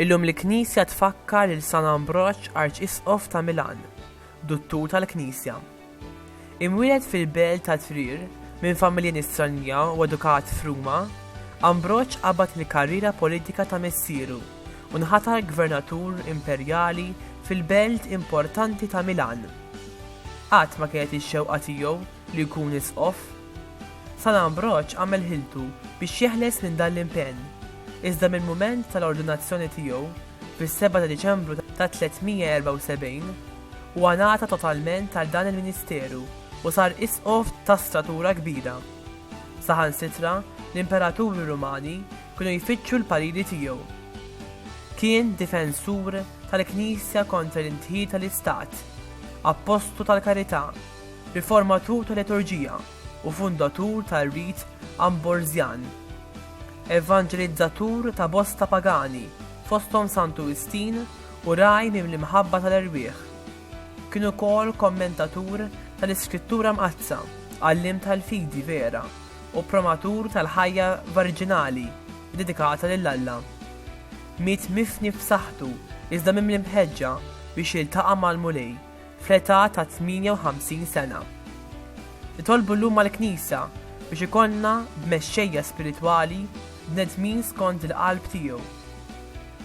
Illum l-Knisja tfakkar lil San Ambroġ Arċisqof ta' Milan, Duttur tal-Knisja. Imwieled fil-belt ta' Trier minn familja Nisranija u edukat f'Ruma, Ambroġ qabad il-karriera politika ta' missieru u nħatar gvernatur imperjali fil-belt importanti ta' Milan. Qatt ma kienet ix-xewqa tiegħu li jkun isqof. San Ambroġ għamel ħiltu biex jeħles minn dan l-impenn, iżda mill-mument tal-ordinazzjoni tiegħu fis-7 ta' Diċembru ta' 374, huwa ngħata totalment għal dan il-ministeru u sar isqof ta' statura kbira. Saħansitra l-imperaturi Rumani kienu jfittxu l-pariri tiegħu. Kien difensur tal-Knisja kontra l-indħil tal-istat, appostu tal-karità, riformatur tal-liturġija, u fundatur tar-rit Amborżjan, evanġelizzatur ta' bosta pagani, fosthom Santu Wistin u ragħaj mimli-mħabba tal-erwieħ. Kien ukoll kommentatur tal-Iskrittura Mqaddsa, għalliem tal-fidi vera u promatur tal-ħajja varġinali ddedikata lil Alla. Miet mifni f'saħħtu iżda mimli mħeġġa biex jiltaqa' mal-Mulej. fl-età ta' 58 sena. Nitolbu llum għall-Knisja biex ikollna b'mexxejja spiritwali bnedmin skond il-qalb tiegħu,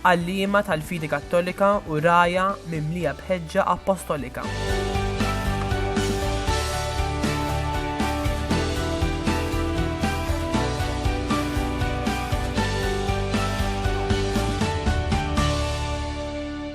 għalliema tal-fidi Kattolika u rgħajja mimlija b'ħeġġa appostolika.